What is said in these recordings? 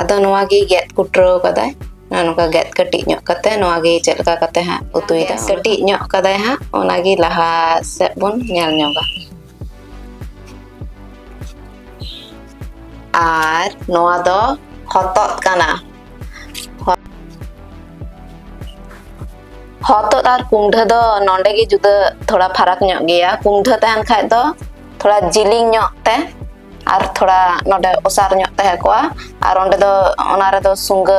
ᱟᱫᱚ ᱱᱚᱣᱟ ᱜᱮ ᱜᱮᱫ ᱠᱩᱴᱨᱟᱹᱣ ᱠᱟᱫᱟᱭ ᱱᱚᱝᱠᱟ ᱜᱮᱫ ᱠᱟᱹᱴᱤᱡ ᱧᱚᱜ ᱠᱟᱛᱮ ᱱᱚᱣᱟ ᱜᱮ ᱪᱮᱫ ᱞᱮᱠᱟ ᱠᱟᱛᱮ ᱦᱟᱸᱜ ᱩᱛᱩᱭᱮᱫᱟ ᱠᱟᱹᱴᱤᱡ ᱧᱚᱜ ᱠᱟᱫᱟᱭ ᱦᱟᱸᱜ ᱚᱱᱟ ᱜᱮ ᱞᱟᱦᱟ ᱥᱮᱫ ᱵᱚᱱ ᱧᱮᱞ ᱧᱚᱜᱟ ᱟᱨ ᱱᱚᱣᱟ ᱫᱚ ᱦᱚᱛᱚᱫ ᱠᱟᱱᱟ ᱦᱚᱛᱚᱫ ᱟᱨ ᱠᱩᱢᱰᱷᱟᱹ ᱫᱚ ᱱᱚᱰᱮ ᱜᱮ ᱡᱩᱫᱟᱹ ᱛᱷᱚᱲᱟ ᱯᱷᱟᱨᱟᱠ ᱧᱚᱜ ᱜᱮᱭᱟ ᱠᱩᱢᱰᱷᱟᱹ ᱛᱟᱦᱮᱱ ᱠᱷᱟᱡ ᱫᱚ ᱛᱷᱚᱲᱟ ᱡᱤᱞᱤᱧ ᱧᱚᱜ ᱛᱮ ᱟᱨ ᱛᱷᱚᱲᱟ ᱱᱚᱰᱮ ᱚᱥᱟᱨ ᱧᱚᱜ ᱛᱟᱦᱮᱸ ᱠᱚᱜᱼᱟ ᱟᱨ ᱚᱸᱰᱮ ᱫᱚ ᱚᱱᱟ ᱨᱮᱫᱚ ᱥᱩᱝᱜᱟᱹ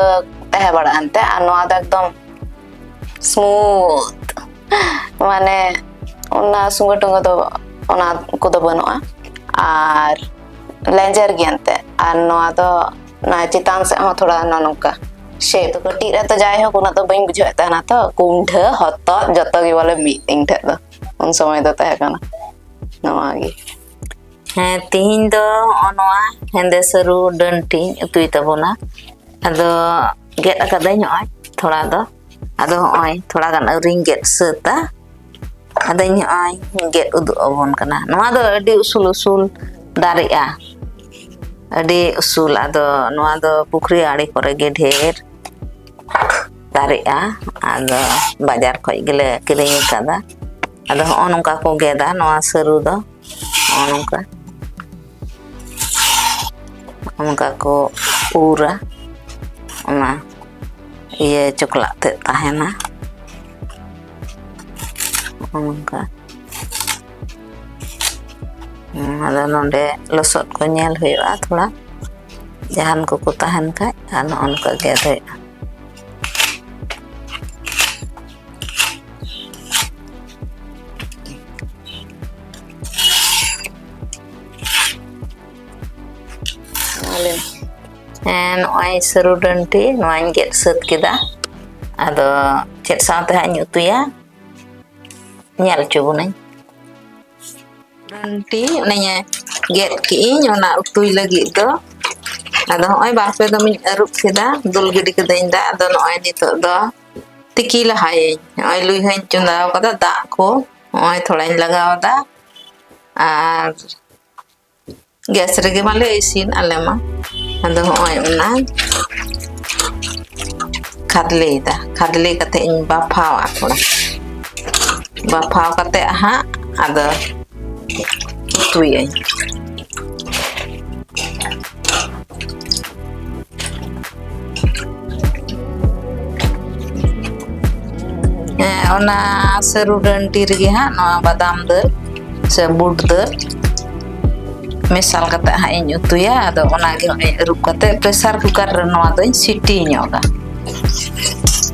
ᱛᱟᱦᱮᱸ ᱵᱟᱲᱟᱜᱼᱟ ᱮᱱᱛᱮ ᱟᱨ ᱱᱚᱣᱟ ᱫᱚ ᱮᱠᱫᱚᱢ ᱥᱢᱩᱛᱷ ᱢᱟᱱᱮ ᱚᱱᱟ ᱥᱩᱝᱜᱟᱹ ᱴᱩᱝᱜᱟᱹ ᱫᱚ ᱚᱱᱟ ᱠᱚᱫᱚ ᱵᱟᱹᱱᱩᱜᱼᱟ ᱟᱨ ᱞᱮᱸᱡᱮᱨ ᱜᱮᱭᱟ ᱮᱱᱛᱮ ᱟᱨ ᱱᱚᱣᱟ ᱫᱚ ᱚᱱᱟ ᱪᱮᱛᱟᱱ ᱥᱮᱫ ᱦᱚᱸ ᱛᱷᱚᱲᱟ ᱱᱚᱜᱼᱚ ᱱᱚᱝᱠᱟ ᱥᱮᱫ ᱫᱚ ᱠᱟᱹᱴᱤᱡ ᱨᱮ ᱛᱚ ᱡᱟᱭᱦᱳᱠ ᱩᱱᱟᱹᱜ ᱫᱚ ᱵᱟᱹᱧ ᱵᱩᱡᱷᱟᱹᱣᱮᱫ ᱛᱟᱦᱮᱱᱟ ᱛᱚ ᱠᱩᱢᱰᱷᱟᱹ ᱦᱚᱛᱚᱫ ᱡᱚᱛᱚ ᱜᱮ ᱵᱚᱞᱮ ᱢᱤᱫ ᱤᱧ ᱴᱷᱮᱡ ᱫᱚ ᱩᱱ ᱥᱚᱢᱚᱭ ᱫᱚ ᱛᱟᱦᱮᱸ ᱠᱟᱱᱟ ᱱᱚᱣᱟ ᱜᱮ ᱦᱮᱸ ᱛᱤᱦᱤᱧ ᱫᱚ ᱦᱚᱜᱼᱚ ᱱᱚᱣᱟ ᱦᱮᱸᱫᱮ ᱥᱟᱹᱨᱩ ᱰᱟᱹᱱ ᱴᱤᱧ ᱩᱛᱩᱭ ᱛᱟᱵᱚᱱᱟ ᱟᱫᱚ ᱜᱮᱫ ᱟᱠᱟᱫᱟᱹᱧ ᱱᱚᱜᱼᱚᱭ ᱛᱷᱚᱲᱟ ᱫᱚ ᱟᱫᱚ ᱦᱚᱜᱼᱚᱭ ᱛᱷᱚᱲᱟ ᱜᱟᱱ ᱟᱹᱣᱨᱤᱧ ᱜᱮᱫ ᱥᱟᱹᱛᱟ ᱟᱫᱚᱧ ᱦᱚᱜᱼᱚᱭ ᱜᱮᱫ ᱩᱫᱩᱜ ᱟᱵᱚᱱ ᱠᱟᱱᱟ ᱱᱚᱣᱟ ᱫᱚ ᱟᱹᱰᱤ ᱩᱥᱩᱞ ᱩᱥᱩᱞ ᱫᱟᱨᱮᱜᱼᱟ ᱟᱹᱰᱤ ᱩᱥᱩᱞ ᱟᱫᱚ ᱱᱚᱣᱟ ᱫᱚ ᱯᱩᱠᱷᱨᱤ ᱟᱲᱮ ᱠᱚᱨᱮ ᱜᱮ ᱰᱷᱮᱨ ᱫᱟᱨᱮᱜᱼᱟ ᱟᱫᱚ ᱵᱟᱡᱟᱨ ᱠᱷᱚᱡ ᱜᱮᱞᱮ ᱠᱤᱨᱤᱧ ᱟᱠᱟᱫᱟ ᱟᱫᱚ ᱦᱚᱸᱜᱼᱚ ᱱᱚᱝᱠᱟ ᱠᱚ ᱜᱮᱫᱟ ᱱᱚᱣᱟ ᱥᱟᱹᱨᱩ ᱫᱚ ᱦᱚᱸᱜᱼᱚ ᱱᱚᱝᱠᱟ ᱚᱱᱠᱟ ᱠᱚ ᱩᱨᱟ ᱚᱱᱟ ᱤᱭᱟᱹ ᱪᱚᱠᱞᱟᱜ ᱛᱮ ᱛᱟᱦᱮᱱᱟ ᱚᱱᱠᱟ ᱟᱫᱚ ᱱᱚᱰᱮ ᱞᱚᱥᱚᱫ ᱠᱚ ᱧᱮᱞ ᱦᱩᱭᱩᱜᱼᱟ ᱛᱷᱚᱲᱟ ᱡᱟᱦᱟᱱ ᱠᱚᱠᱚ ᱛᱟᱦᱮᱱ ᱠᱷᱟᱡ ᱟᱨ ᱱᱚᱜᱼᱚ ᱱᱚᱝᱠᱟ ᱜᱮᱫ ᱦᱩᱭᱩᱜᱼᱟ ᱦᱮᱸ ᱱᱚᱜᱼᱚᱭ ᱥᱟᱹᱨᱩ ᱰᱟᱹᱱᱴᱤ ᱱᱚᱣᱟᱧ ᱜᱮᱫ ᱥᱟᱹᱛ ᱠᱮᱫᱟ ᱟᱫᱚ ᱪᱮᱫ ᱥᱟᱶᱛᱮ ᱦᱟᱸᱜ ᱤᱧ ᱩᱛᱩᱭᱟ ᱧᱮᱞ ᱦᱚᱪᱚ ᱵᱚᱱᱟᱹᱧ ᱴᱤ ᱚᱱᱮᱧ ᱜᱮᱫ ᱠᱮᱜᱼᱤᱧ ᱚᱱᱟ ᱩᱛᱩᱭ ᱞᱟᱹᱜᱤᱫ ᱫᱚ ᱟᱫᱚ ᱦᱚᱸᱜᱼᱚᱭ ᱵᱟᱨᱯᱮ ᱫᱚᱢᱤᱧ ᱟᱹᱨᱩᱵ ᱠᱮᱫᱟ ᱫᱩᱞ ᱜᱤᱰᱤ ᱠᱟᱹᱫᱟᱹᱧ ᱫᱟᱜ ᱟᱫᱚ ᱱᱚᱜᱼᱚᱭ ᱱᱤᱛᱚᱜ ᱫᱚ ᱛᱤᱠᱤ ᱞᱟᱦᱟᱭᱟᱹᱧ ᱱᱚᱜᱼᱚᱭ ᱞᱩᱭ ᱦᱚᱧ ᱪᱚᱸᱫᱟ ᱟᱠᱟᱫᱟ ᱫᱟᱜ ᱠᱚ ᱱᱚᱜᱼᱚᱭ ᱛᱷᱚᱲᱟᱧ ᱞᱟᱜᱟᱣᱫᱟ ᱟᱨ ᱜᱮᱥ ᱨᱮᱜᱮ ᱢᱟᱞᱮ ᱤᱥᱤᱱ ᱟᱞᱮ ᱢᱟ ᱟᱫᱚ ᱦᱚᱸᱜᱼᱚᱭ ᱚᱱᱟ ᱠᱷᱟᱫᱽᱞᱮᱭᱮᱫᱟ ᱠᱷᱟᱫᱽᱞᱮ ᱠᱟᱛᱮ ᱤᱧ ᱵᱟᱯᱷᱟᱣᱟ ᱛᱷᱚᱲᱟ ᱵᱟᱯᱷᱟᱣ ᱠᱟᱛᱮ ᱦᱟᱸᱜ ᱟᱫᱚ ᱩᱛᱩᱭᱟᱹᱧ ᱦᱮᱸ ᱚᱱᱟ ᱥᱟᱹᱨᱩ ᱰᱟᱹᱱᱴᱤ ᱨᱮᱜᱮ ᱦᱟᱸᱜ ᱱᱚᱣᱟ ᱵᱟᱫᱟᱢ ᱫᱟᱹᱞ ᱥᱮ ᱵᱩᱴ ᱫᱟᱹᱞ ᱢᱮᱥᱟᱞ ᱠᱟᱛᱮ ᱦᱟᱸᱜ ᱤᱧ ᱩᱛᱩᱭᱟ ᱟᱫᱚ ᱚᱱᱟᱜᱮ ᱦᱚᱸᱜᱼᱚᱭ ᱟᱹᱨᱩᱵ ᱠᱟᱛᱮ ᱯᱨᱮᱥᱟᱨ ᱠᱩᱠᱟᱨ ᱨᱮ ᱱᱚᱣᱟ ᱫᱚᱧ ᱥᱤᱴᱤ ᱧᱚᱜᱟ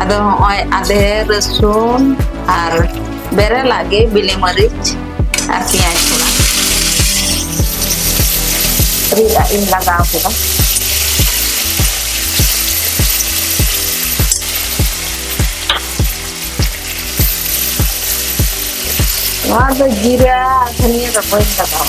ᱟᱫᱚ ᱦᱚᱸᱜᱼᱚᱭ ᱟᱫᱮ ᱨᱟᱹᱥᱩᱱ ᱟᱨ ᱵᱮᱨᱮᱞᱟᱜ ᱜᱮ ᱵᱤᱞᱤ ᱢᱟᱹᱨᱤᱪ ᱟᱨ ᱯᱮᱸᱭᱟᱡᱽ ᱛᱷᱚᱲᱟ ᱨᱤᱫ ᱟᱜ ᱤᱧ ᱞᱟᱜᱟᱣ ᱠᱮᱫᱟ ᱱᱚᱣᱟ ᱫᱚ ᱡᱤᱨᱟ ᱫᱷᱟᱹᱱᱤᱭᱟᱹ ᱫᱚ ᱵᱟᱹᱧ ᱞᱟᱜᱟᱣᱟ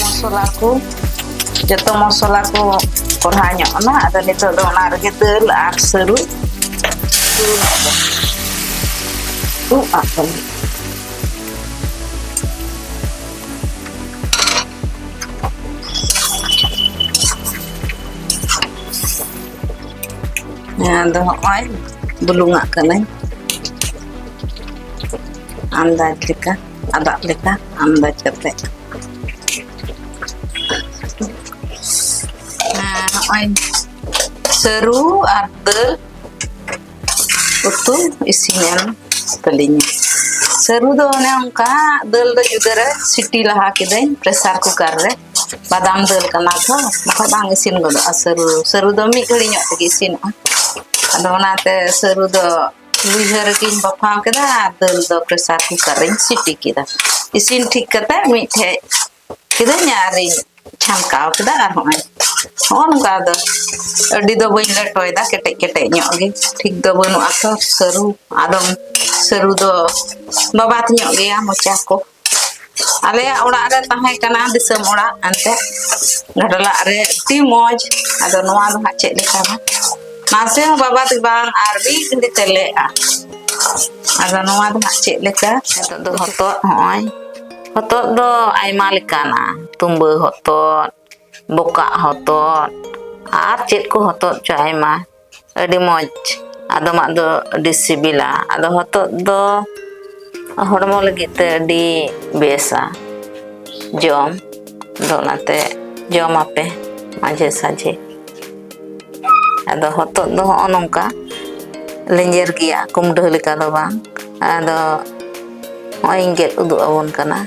ᱢᱚᱥᱞᱟ ᱠᱚ ᱡᱚᱛᱚ ᱢᱚᱥᱞᱟ ᱠᱚ ᱠᱚᱲᱦᱟ ᱧᱚᱜ ᱮᱱᱟ ᱟᱫᱚ ᱱᱤᱛᱚᱜ ᱫᱚ ᱚᱱᱟ ᱨᱮᱜᱮ ᱫᱟᱹᱞ ᱟᱨ ᱥᱟᱹᱨᱩ ᱫᱩᱞ ᱟᱵᱚ ᱫᱩᱜ ᱟᱵᱚ ᱟᱫᱚ ᱦᱚᱸᱜᱼᱚᱭ ᱵᱩᱞᱩᱝᱟᱜ ᱠᱟᱹᱱᱟᱹᱧ ᱟᱱᱫᱟᱡᱽ ᱞᱮᱠᱟ ᱟᱫᱟᱜ ᱞᱮᱠᱟ ᱟᱱᱫᱟᱡᱽ ᱠᱟᱛᱮ ᱱᱚᱜᱼᱚᱭ ᱥᱟᱹᱨᱩ ᱟᱨ ᱫᱟᱹᱞ ᱩᱛᱩ ᱤᱥᱤᱱ ᱮᱱ ᱛᱟᱹᱞᱤᱧᱟ ᱥᱟᱹᱨᱩ ᱫᱚ ᱚᱱᱮ ᱚᱱᱠᱟ ᱫᱟᱹᱞ ᱫᱚ ᱡᱩᱫᱟᱹ ᱨᱮ ᱥᱤᱴᱤ ᱞᱟᱦᱟ ᱠᱤᱫᱟᱹᱧ ᱯᱨᱮᱥᱟᱨ ᱠᱩᱠᱟᱨ ᱨᱮ ᱵᱟᱫᱟᱢ ᱫᱟᱹᱞ ᱠᱟᱱᱟ ᱛᱚ ᱵᱟᱠᱷᱟᱡ ᱵᱟᱝ ᱤᱥᱤᱱ ᱜᱚᱫᱚᱜᱼᱟ ᱥᱟᱹᱨᱩ ᱥᱟᱹᱨᱩ ᱫᱚ ᱢᱤᱫ ᱜᱷᱟᱹᱲᱤ ᱧᱚᱜ ᱛᱮᱜᱮ ᱤᱥᱤᱱᱚᱜᱼᱟ ᱟᱫᱚ ᱚᱱᱟᱛᱮ ᱥᱟᱹᱨᱩ ᱫᱚ ᱞᱩᱭᱦᱟᱹ ᱨᱮᱜᱮᱧ ᱵᱟᱯᱷᱟᱣ ᱠᱮᱫᱟ ᱟᱨ ᱫᱟᱹᱞ ᱫᱚ ᱯᱨᱮᱥᱟᱨ ᱠᱩᱠᱟᱨ ᱨᱮᱧ ᱥᱤᱴᱤ ᱠᱮᱫᱟ ᱤᱥᱤᱱ ᱴᱷᱤᱠ ᱠᱟᱛᱮ ᱢᱤᱫᱴᱷᱮᱡ ᱠᱤᱫᱟᱹᱧ ᱟᱨᱤᱧ ᱪᱷᱟᱢᱠᱟᱣ ᱠᱮᱫᱟ ᱟᱨ ᱦᱚᱸᱜᱼᱚᱭ ᱦᱚᱸᱜᱼᱚ ᱱᱚᱝᱠᱟ ᱫᱚ ᱟᱹᱰᱤ ᱫᱚ ᱵᱟᱹᱧ ᱞᱮᱴᱚᱭᱮᱫᱟ ᱠᱮᱴᱮᱡ ᱠᱮᱴᱮᱡ ᱧᱚᱜ ᱜᱮ ᱴᱷᱤᱠ ᱫᱚ ᱵᱟᱹᱱᱩᱜᱼᱟ ᱛᱚ ᱥᱟᱹᱨᱩ ᱟᱫᱚᱢ ᱥᱟᱹᱨᱩ ᱫᱚ ᱵᱟᱵᱟᱛ ᱧᱚᱜ ᱜᱮᱭᱟ ᱢᱚᱪᱟ ᱠᱚ ᱟᱞᱮ ᱚᱲᱟᱜ ᱨᱮ ᱛᱟᱦᱮᱸ ᱠᱟᱱᱟ ᱫᱤᱥᱚᱢ ᱚᱲᱟᱜ ᱟᱱᱛᱮ ᱜᱟᱰᱞᱟᱜ ᱨᱮ ᱟᱹᱰᱤ ᱢᱚᱡᱽ ᱟᱫᱚ ᱱᱚᱣᱟ ᱫᱚ ᱦᱟᱸᱜ ᱪᱮᱫ ᱞᱮᱠᱟ ᱱᱟᱥᱮ ᱦᱚᱸ ᱵᱟᱵᱟ ᱫᱚ ᱵᱟᱝ ᱟᱨ ᱢᱤᱫ ᱜᱷᱟᱹᱲᱤ ᱛᱮᱞᱮᱜᱼᱟ ᱟᱫᱚ ᱱᱚᱣᱟ ᱫᱚ ᱦᱟᱸᱜ ᱪᱮᱫ ᱞᱮᱠᱟ ᱱᱤᱛᱚᱜ ᱫᱚ ᱦᱚᱛᱚᱫ ᱦᱚᱸᱜᱼᱚᱭ ᱦᱚᱛᱚᱫ ᱫᱚ ᱟᱭᱢᱟ ᱞᱮᱠᱟᱱᱟ ᱛᱩᱢᱵᱟᱹ ᱦᱚᱛᱚᱫ ᱵᱚᱠᱟᱜ ᱦᱚᱛᱚᱫ ᱟᱨ ᱪᱮᱫ ᱠᱚ ᱦᱚᱛᱚᱫ ᱪᱚ ᱟᱭᱢᱟ ᱟᱹᱰᱤ ᱢᱚᱡᱽ ᱟᱫᱚᱢᱟᱜ ᱫᱚ ᱟᱹᱰᱤ ᱥᱤᱵᱤᱞᱟ ᱟᱫᱚ ᱦᱚᱛᱚᱫ ᱫᱚ ᱦᱚᱲᱢᱚ ᱞᱟᱹᱜᱤᱫ ᱛᱮ ᱟᱹᱰᱤ ᱵᱮᱥᱟ ᱡᱚᱢ ᱫᱚ ᱚᱱᱟᱛᱮ ᱡᱚᱢ ᱟᱯᱮ ᱢᱟᱡᱷᱮ ᱥᱟᱡᱷᱮ ᱟᱫᱚ ᱦᱚᱛᱚᱫ ᱫᱚ ᱦᱚᱸᱜᱼᱚ ᱱᱚᱝᱠᱟ ᱞᱮᱸᱡᱮᱨ ᱜᱮᱭᱟ ᱠᱩᱢᱰᱟᱹ ᱞᱮᱠᱟ ᱫᱚ ᱵᱟᱝ ᱟᱫᱚ ᱱᱚᱜᱼᱚᱭ ᱤᱧ ᱜᱮᱫ ᱩᱫᱩᱜ ᱟᱵᱚᱱ ᱠᱟᱱᱟ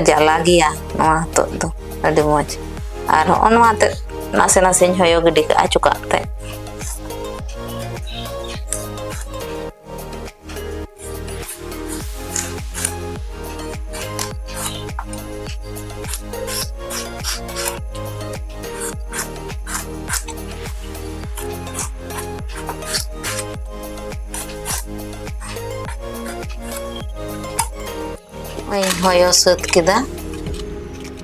ᱡᱟᱞᱟ ᱜᱮᱭᱟ ᱱᱚᱣᱟ ᱦᱚᱛᱚᱫ ᱫᱚ ᱟᱹᱰᱤ ᱢᱚᱡᱽ ᱟᱨ ᱦᱚᱸᱜᱼᱚ ᱱᱚᱣᱟ ᱛᱮ ᱱᱟᱥᱮ ᱱᱟᱥᱮᱧ ᱦᱚᱭᱚ ᱜᱤᱰᱤ ᱠᱟᱜᱼᱟ ᱪᱚᱠᱟᱜ ᱛᱮ ᱳᱭ ᱦᱚᱭᱚ ᱥᱟᱹᱛ ᱠᱮᱫᱟ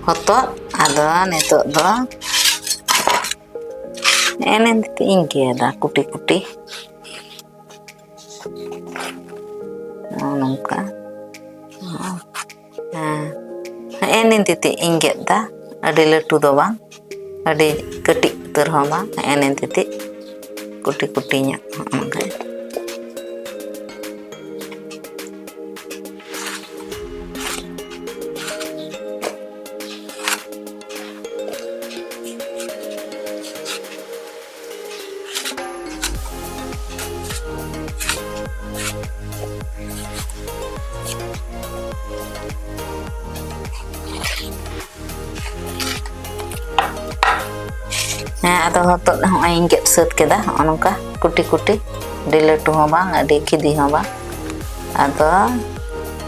ᱦᱚᱛᱚᱫ ᱟᱫᱚ ᱱᱤᱛᱚᱜ ᱫᱚ ᱮᱱᱮ ᱤᱧ ᱜᱮᱫᱟ ᱠᱩᱴᱤ ᱠᱩᱴᱤ ᱱᱚᱜᱼᱚ ᱱᱚᱝᱠᱟ ᱦᱮᱸ ᱱᱤᱱ ᱛᱤᱛᱤᱡ ᱤᱧ ᱜᱮᱫ ᱮᱫᱟ ᱟᱹᱰᱤ ᱞᱟᱹᱴᱩ ᱫᱚ ᱵᱟᱝ ᱟᱹᱰᱤ ᱠᱟᱹᱴᱤᱡ ᱩᱛᱟᱹᱨ ᱦᱚᱸ ᱵᱟᱝ ᱦᱮᱸ ᱱᱤᱱ ᱛᱤᱛᱤᱡ ᱠᱩᱴᱤ ᱠᱩᱴᱤ ᱧᱚᱜ ᱚᱱᱠᱟ ᱦᱮᱸ ᱟᱫᱚ ᱦᱚᱛᱚᱫ ᱦᱚᱸᱜᱼᱚᱭ ᱤᱧ ᱜᱮᱫ ᱥᱟᱹᱛ ᱠᱮᱫᱟ ᱦᱚᱸᱜᱼᱚ ᱱᱚᱝᱠᱟ ᱠᱩᱴᱤ ᱠᱩᱴᱤ ᱟᱹᱰᱤ ᱞᱟᱹᱴᱩ ᱦᱚᱸ ᱵᱟᱝ ᱟᱹᱰᱤ ᱠᱷᱤᱫᱤ ᱦᱚᱸ ᱵᱟᱝ ᱟᱫᱚ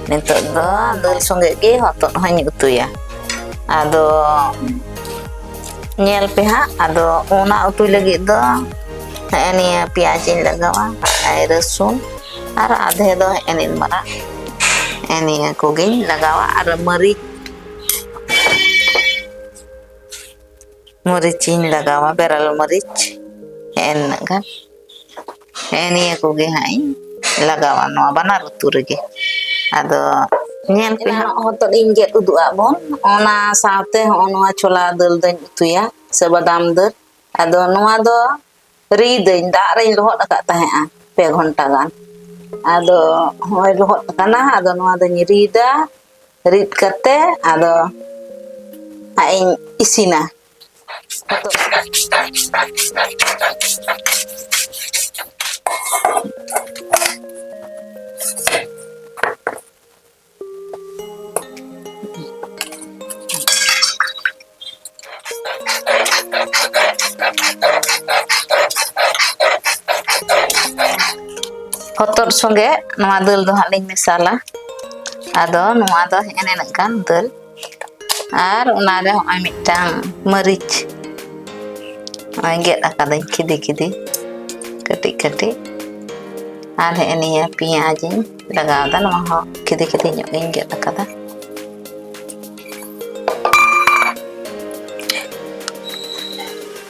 ᱱᱤᱛᱚᱜ ᱫᱚ ᱫᱟᱹᱞ ᱥᱚᱸᱜᱮ ᱜᱮ ᱦᱚᱛᱚᱫ ᱦᱚᱸᱧ ᱩᱛᱩᱭᱟ ᱟᱫᱚ ᱧᱮᱞ ᱯᱮ ᱦᱟᱸᱜ ᱟᱫᱚ ᱚᱱᱟ ᱩᱛᱩ ᱞᱟᱹᱜᱤᱫ ᱫᱚ ᱦᱮᱸ ᱱᱤᱭᱟᱹ ᱯᱮᱸᱭᱟᱡᱽ ᱤᱧ ᱞᱟᱜᱟᱣᱟ ᱟᱨ ᱨᱟᱹᱥᱩᱱ ᱟᱨ ᱟᱫᱷᱮ ᱫᱚ ᱦᱮᱸ ᱱᱤᱱ ᱢᱟᱨᱟᱜ ᱦᱮᱸ ᱱᱤᱭᱟᱹ ᱠᱚᱜᱮᱧ ᱞᱟᱜᱟᱣᱟ ᱟᱨ ᱢᱟᱹᱨᱤᱪ ᱢᱟᱹᱨᱤᱪ ᱤᱧ ᱞᱟᱜᱟᱣᱟ ᱵᱮᱨᱮᱞ ᱢᱟᱹᱨᱤᱪ ᱦᱮᱸ ᱱᱤᱱᱟᱹᱜ ᱜᱟᱱ ᱦᱮᱸ ᱱᱤᱭᱟᱹ ᱠᱚᱜᱮ ᱦᱟᱸᱜ ᱤᱧ ᱞᱟᱜᱟᱣᱟ ᱱᱚᱣᱟ ᱵᱟᱱᱟᱨ ᱩᱛᱩ ᱨᱮᱜᱮ ᱟᱫᱚ ᱧᱮᱞ ᱯᱮ ᱦᱟᱸᱜ ᱮᱱᱟᱱᱚᱜ ᱦᱚᱛᱚᱫ ᱤᱧ ᱜᱮᱫ ᱩᱫᱩᱜ ᱟᱫ ᱵᱚᱱ ᱚᱱᱟ ᱥᱟᱶᱛᱮ ᱦᱚᱸᱜᱼᱚ ᱱᱚᱣᱟ ᱪᱷᱳᱞᱟ ᱫᱟᱹᱞ ᱫᱚᱧ ᱩᱛᱩᱭᱟ ᱥᱮ ᱵᱟᱫᱟᱢ ᱫᱟᱹᱞ ᱟᱫᱚ ᱱᱚᱣᱟ ᱫᱚ ᱨᱤᱫᱟᱹᱧ ᱫᱟᱜ ᱨᱤᱧ ᱞᱚᱦᱚᱫ ᱟᱠᱟᱫ ᱛᱟᱦᱮᱸᱫᱼᱟ ᱯᱮ ᱜᱷᱚᱱᱴᱟ ᱜᱟᱱ ᱟᱫᱚ ᱦᱚᱸᱜᱼᱚᱭ ᱞᱚᱦᱚᱫ ᱟᱠᱟᱱᱟ ᱟᱫᱚ ᱱᱚᱣᱟ ᱫᱚᱧ ᱨᱤᱫᱟ ᱨᱤᱫ ᱠᱟᱛᱮ ᱟᱫᱚ ᱦᱟᱸᱜ ᱤᱧ ᱤᱥᱤᱱᱟ ᱦᱚᱛᱚᱫ ᱥᱤᱫ ᱦᱚᱛᱚᱫ ᱥᱚᱸᱜᱮ ᱱᱚᱣᱟ ᱫᱟᱹᱞ ᱫᱚ ᱦᱟᱸᱜ ᱞᱤᱧ ᱢᱮᱥᱟᱞᱟ ᱟᱫᱚ ᱱᱚᱣᱟ ᱫᱚ ᱦᱮᱸ ᱱᱤᱱᱟᱹᱜ ᱜᱟᱱ ᱫᱟᱹᱞ ᱟᱨ ᱚᱱᱟᱨᱮ ᱦᱚᱸᱜᱼᱚᱭ ᱢᱤᱫᱴᱟᱝ ᱢᱟᱹᱨᱤᱪ ᱱᱚᱜᱼᱚᱭ ᱜᱮᱫ ᱟᱠᱟᱫᱟᱹᱧ ᱠᱷᱤᱫᱤ ᱠᱷᱤᱫᱤ ᱠᱟᱹᱴᱤᱡ ᱠᱟᱹᱴᱤᱡ ᱟᱨ ᱦᱮᱸ ᱱᱤᱭᱟᱹ ᱯᱮᱸᱭᱟᱡᱽ ᱤᱧ ᱞᱟᱜᱟᱣᱫᱟ ᱱᱚᱣᱟ ᱦᱚᱸ ᱠᱷᱤᱫᱤ ᱠᱷᱤᱫᱤ ᱧᱚᱜ ᱜᱤᱧ ᱜᱮᱫ ᱟᱠᱟᱫᱟ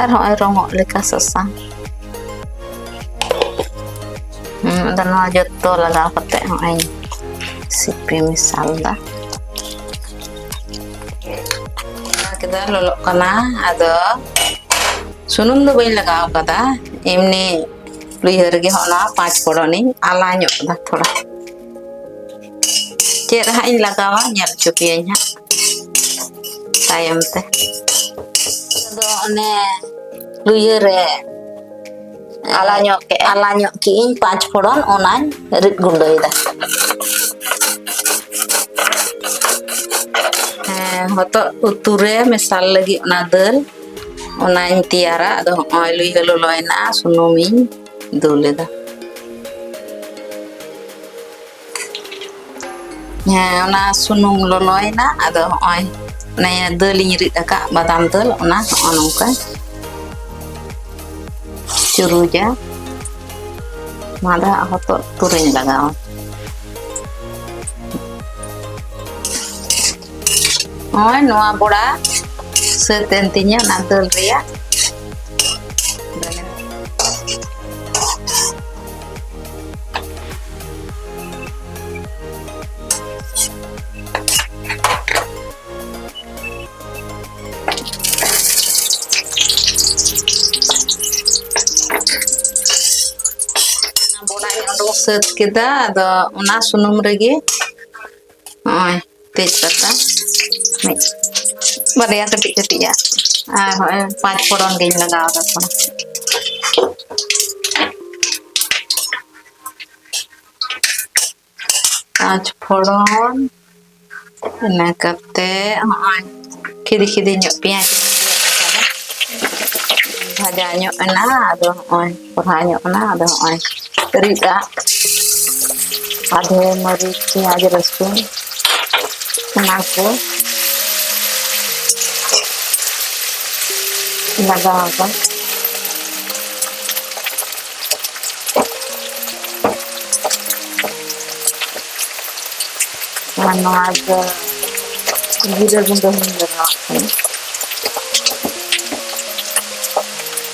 ᱟᱨ ᱦᱚᱸᱜᱼᱚᱭ ᱨᱚᱝᱚᱜ ᱞᱮᱠᱟ ᱥᱟᱥᱟᱝ ᱟᱫᱚ ᱱᱚᱣᱟ ᱡᱚᱛᱚ ᱞᱟᱜᱟᱣ ᱠᱟᱛᱮ ᱦᱚᱸᱜᱼᱚᱭ ᱥᱤᱯᱤ ᱢᱮᱥᱟᱞ ᱫᱟ ᱠᱮᱫᱟ ᱞᱚᱞᱚᱜ ᱠᱟᱱᱟ ᱟᱫᱚ ᱥᱩᱱᱩᱢ ᱫᱚ ᱵᱟᱹᱧ ᱞᱟᱜᱟᱣ ᱠᱟᱫᱟ ᱮᱢᱱᱤ ᱞᱩᱭᱦᱟᱹ ᱨᱮᱜᱮ ᱦᱚᱸᱜᱼᱚ ᱱᱚᱣᱟ ᱯᱟᱸᱪ ᱯᱷᱚᱲᱚᱱᱤᱧ ᱟᱞᱟ ᱧᱚᱜ ᱫᱟ ᱛᱷᱚᱲᱟ ᱪᱮᱫ ᱦᱟᱸᱜ ᱤᱧ ᱞᱟᱜᱟᱣᱟ ᱧᱮᱞ ᱦᱚᱪᱚ ᱯᱮᱭᱟᱹᱧ ᱦᱟᱸᱜ ᱛᱟᱭᱚᱢ ᱛᱮ ᱟᱫᱚ ᱚᱱᱮ ᱞᱩᱭᱟᱹ ᱨᱮ ᱟᱞᱟ ᱧᱚᱜ ᱠᱮᱫ ᱟᱞᱟ ᱧᱚᱜ ᱠᱮᱫ ᱤᱧ ᱯᱟᱸᱪ ᱯᱷᱚᱲᱚᱱ ᱚᱱᱟᱧ ᱨᱤᱫ ᱜᱩᱸᱰᱟᱹᱭᱮᱫᱟ ᱦᱮᱸ ᱦᱚᱛᱚᱫ ᱩᱛᱩ ᱨᱮ ᱢᱮᱥᱟᱞ ᱞᱟᱹᱜᱤᱫ ᱚᱱᱟ ᱫᱟᱹᱞ ᱚᱱᱟᱧ ᱛᱮᱭᱟᱨᱟ ᱟᱫᱚ ᱦᱚᱸᱜᱼᱚᱭ ᱞᱩᱭᱦᱟᱹ ᱞᱚᱞᱚᱭᱮᱱᱟ ᱥᱩᱱᱩᱢᱤᱧ ᱫᱩᱞ ᱮᱫᱟ ᱦᱮᱸ ᱚᱱᱟ ᱥᱩᱱᱩᱢ ᱞᱚᱞᱚᱭᱮᱱᱟ ᱟᱫᱚ ᱦᱚᱸᱜᱼᱚᱭ ᱚᱱᱮ ᱫᱟᱹᱞᱤᱧ ᱨᱤᱫ ᱟᱠᱟᱫ ᱵᱟᱫᱟᱢ ᱫᱟᱹᱞ ᱚᱱᱟ ᱦᱚᱸᱜᱼᱚ ᱱᱚᱝᱠᱟ ᱪᱩᱨᱩᱡᱟ ᱱᱚᱣᱟ ᱫᱚ ᱦᱟᱸᱜ ᱦᱚᱛᱚᱫ ᱛᱩᱨᱤᱧ ᱞᱟᱜᱟᱣᱟ ᱱᱚᱜᱼᱚᱭ ᱱᱚᱣᱟ ᱵᱚᱲᱟ ᱥᱟᱹᱛ ᱮᱱ ᱛᱤᱧᱟᱹ ᱚᱱᱟ ᱫᱟᱹᱞ ᱨᱮᱭᱟᱜ ᱥᱟᱹᱛ ᱠᱮᱫᱟ ᱟᱫᱚ ᱚᱱᱟ ᱥᱩᱱᱩᱢ ᱨᱮᱜᱮ ᱱᱚᱜᱼᱚᱭ ᱛᱮᱡᱽ ᱯᱟᱛᱟ ᱢᱤᱫ ᱵᱟᱨᱭᱟ ᱠᱟᱹᱴᱤᱡ ᱠᱟᱹᱴᱤᱡᱟᱜ ᱟᱨ ᱦᱚᱸᱜᱼᱚᱭ ᱯᱟᱸᱪ ᱯᱷᱚᱲᱚᱱ ᱜᱤᱧ ᱞᱟᱜᱟᱣ ᱫᱟ ᱛᱷᱚᱲᱟ ᱯᱟᱸᱪ ᱯᱷᱚᱲᱚᱱ ᱤᱱᱟᱹ ᱠᱟᱛᱮ ᱦᱚᱸᱜᱼᱚᱭ ᱠᱷᱤᱫᱤ ᱠᱷᱤᱫᱤ ᱧᱚᱜ ᱯᱮᱸᱭᱟᱡᱽ ᱵᱷᱟᱡᱟ ᱧᱚᱜ ᱮᱱᱟ ᱟᱫᱚ ᱦᱚᱸᱜᱼᱚᱭ ᱠᱚᱲᱦᱟ ᱧᱚᱜ ᱠᱟᱱᱟ ᱟᱫᱚ ᱦᱚᱸᱜᱼᱚᱭ ᱨᱤᱫ ᱟᱜ ᱟᱫᱷᱮ ᱢᱟᱹᱨᱤᱪ ᱯᱮᱸᱭᱟᱡᱽ ᱨᱟᱹᱥᱩᱱ ᱚᱱᱟ ᱠᱚ ᱞᱟᱜᱟᱣ ᱟᱠᱚ ᱟᱨ ᱱᱚᱣᱟ ᱫᱚ ᱡᱤᱨᱟᱹ ᱜᱩᱸᱰᱟᱹ ᱦᱚᱧ ᱞᱟᱜᱟᱣᱟᱜ ᱠᱟᱱᱟ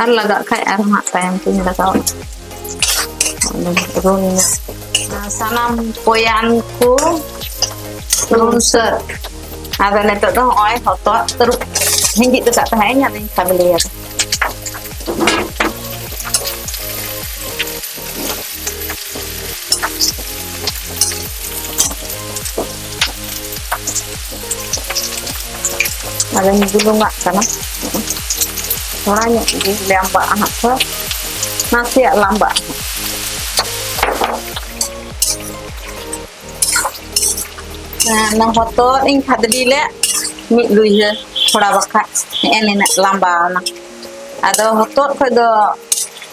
ᱟᱨ ᱞᱟᱜᱟᱜ ᱠᱷᱟᱡ ᱟᱨᱦᱚᱸ ᱦᱟᱸᱜ ᱛᱟᱭᱚᱢ ᱛᱤᱧ ᱞᱟᱜᱟᱣᱟ ᱨᱩᱱ ᱥᱟᱱᱟᱢ ᱯᱚᱭᱟᱱ ᱠᱚ ᱨᱩᱱ ᱥᱟᱹᱛ ᱟᱫᱚ ᱱᱤᱛᱚᱜ ᱫᱚ ᱦᱚᱸᱜᱼᱚᱭ ᱦᱚᱛᱚᱫ ᱛᱟᱹᱨᱩᱵ ᱦᱤᱸᱡᱤᱫ ᱟᱠᱟᱫ ᱛᱟᱦᱮᱸᱫ ᱤᱧ ᱟᱫᱚᱧ ᱠᱷᱟᱫᱽᱞᱮᱭᱟ ᱟᱫᱚᱧ ᱵᱩᱞᱩᱝᱟᱜ ᱠᱟᱱᱟ ᱛᱷᱚᱲᱟ ᱧᱚᱜ ᱜᱮ ᱞᱟᱢᱵᱟᱜᱼᱟ ᱦᱟᱸᱜ ᱛᱷᱚᱲᱟ ᱱᱟᱥᱮᱭᱟᱜ ᱞᱟᱢᱵᱟᱜᱼᱟ ᱚᱱᱟ ᱦᱚᱛᱚᱫ ᱤᱧ ᱠᱷᱟᱫᱽᱞᱤ ᱞᱮᱫ ᱢᱤᱫ ᱞᱩᱭᱦᱟᱹ ᱛᱷᱚᱲᱟ ᱵᱟᱠᱷᱟᱡ ᱱᱮᱜᱼᱮ ᱱᱤᱱᱟᱹᱜ ᱞᱟᱢᱵᱟᱣᱱᱟ ᱟᱫᱚ ᱦᱚᱛᱚᱫ ᱠᱷᱚᱡ ᱫᱚ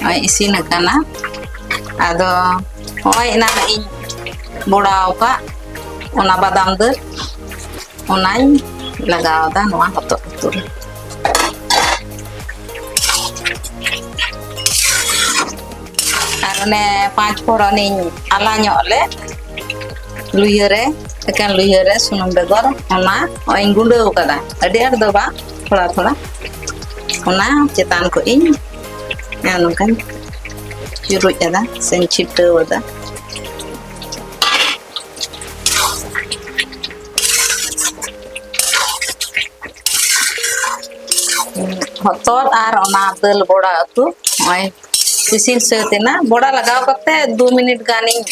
ᱱᱚᱜᱼᱚᱭ ᱤᱥᱤᱱ ᱟᱠᱟᱱᱟ ᱟᱫᱚ ᱱᱚᱜᱼᱚᱭ ᱮᱱᱟᱱ ᱤᱧ ᱵᱚᱲᱟᱣ ᱟᱠᱟᱫ ᱚᱱᱟ ᱵᱟᱫᱟᱢ ᱫᱟᱹᱞ ᱚᱱᱟᱧ ᱞᱟᱜᱟᱣᱫᱟ ᱱᱚᱣᱟ ᱦᱚᱛᱚᱫ ᱩᱛᱩ ᱨᱮ ᱟᱨ ᱚᱱᱮ ᱯᱟᱸᱪ ᱯᱷᱚᱲᱚᱱᱤᱧ ᱟᱞᱟ ᱧᱚᱜ ᱞᱮ ᱞᱩᱭᱦᱟᱹ ᱨᱮ ᱮᱠᱮᱱ ᱞᱩᱭᱦᱟᱹ ᱨᱮ ᱥᱩᱱᱩᱢ ᱵᱮᱜᱚᱨ ᱚᱱᱟ ᱱᱚᱜᱼᱚᱭ ᱤᱧ ᱜᱩᱸᱰᱟᱹᱣ ᱠᱟᱫᱟ ᱟᱹᱰᱤ ᱟᱸᱴ ᱫᱚ ᱵᱟᱝ ᱛᱷᱚᱲᱟ ᱛᱷᱚᱲᱟ ᱚᱱᱟ ᱪᱮᱛᱟᱱ ᱠᱷᱚᱱ ᱤᱧ ᱱᱚᱝᱠᱟᱧ ᱪᱩᱨᱩᱡ ᱟᱫᱟ ᱥᱮᱧ ᱪᱷᱤᱴᱟᱹᱣ ᱟᱫᱟ ᱦᱚᱛᱚᱫ ᱟᱨ ᱚᱱᱟ ᱫᱟᱹᱞ ᱵᱚᱲᱟ ᱩᱛᱩ ᱱᱚᱜᱼᱚᱭ ᱤᱥᱤᱱ ᱥᱟᱹᱛ ᱮᱱᱟ ᱵᱚᱲᱟ ᱞᱟᱜᱟᱣ ᱠᱟᱛᱮ ᱫᱩ ᱢᱤᱱᱤᱴ ᱜᱟᱱᱤᱧ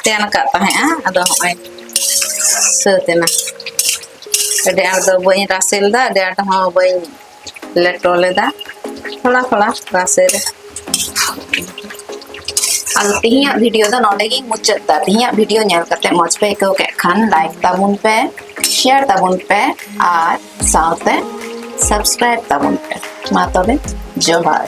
ᱛᱮᱱ ᱟᱠᱟᱫ ᱛᱟᱦᱮᱸᱜᱼᱟ ᱟᱫᱚ ᱦᱚᱸᱜᱼᱚᱭ ᱥᱟᱹᱛ ᱮᱱᱟ ᱟᱹᱰᱤ ᱟᱸᱴ ᱫᱚ ᱵᱟᱹᱧ ᱨᱟᱥᱮ ᱞᱮᱫᱟ ᱟᱹᱰᱤ ᱟᱸᱴ ᱦᱚᱸ ᱵᱟᱹᱧ ᱞᱮᱴᱚ ᱞᱮᱫᱟ ᱛᱷᱚᱲᱟ ᱛᱷᱚᱲᱟ ᱨᱟᱥᱮ ᱨᱮ ᱟᱫᱚ ᱛᱤᱦᱤᱧᱟᱜ ᱵᱷᱤᱰᱤᱭᱳ ᱫᱚ ᱱᱚᱰᱮ ᱜᱤᱧ ᱢᱩᱪᱟᱹᱫ ᱫᱟ ᱛᱤᱦᱤᱧᱟᱜ ᱵᱷᱤᱰᱤᱭᱳ ᱧᱮᱞ ᱠᱟᱛᱮ ᱢᱚᱡᱽ ᱯᱮ ᱟᱹᱭᱠᱟᱹᱣ ᱠᱮᱫ ᱠᱷᱟᱱ ᱞᱟᱭᱤᱠ ᱛᱟᱵᱚᱱ ᱯᱮ ᱥᱮᱭᱟᱨ ᱛᱟᱵᱚᱱ ᱯᱮ ᱟᱨ ᱥᱟᱶᱛᱮ ᱥᱟᱵᱥᱠᱨᱟᱭᱤᱵ ᱛᱟᱵᱚᱱ ᱯᱮ ᱢᱟ ᱛᱚᱵᱮ ᱡᱚᱦᱟᱨ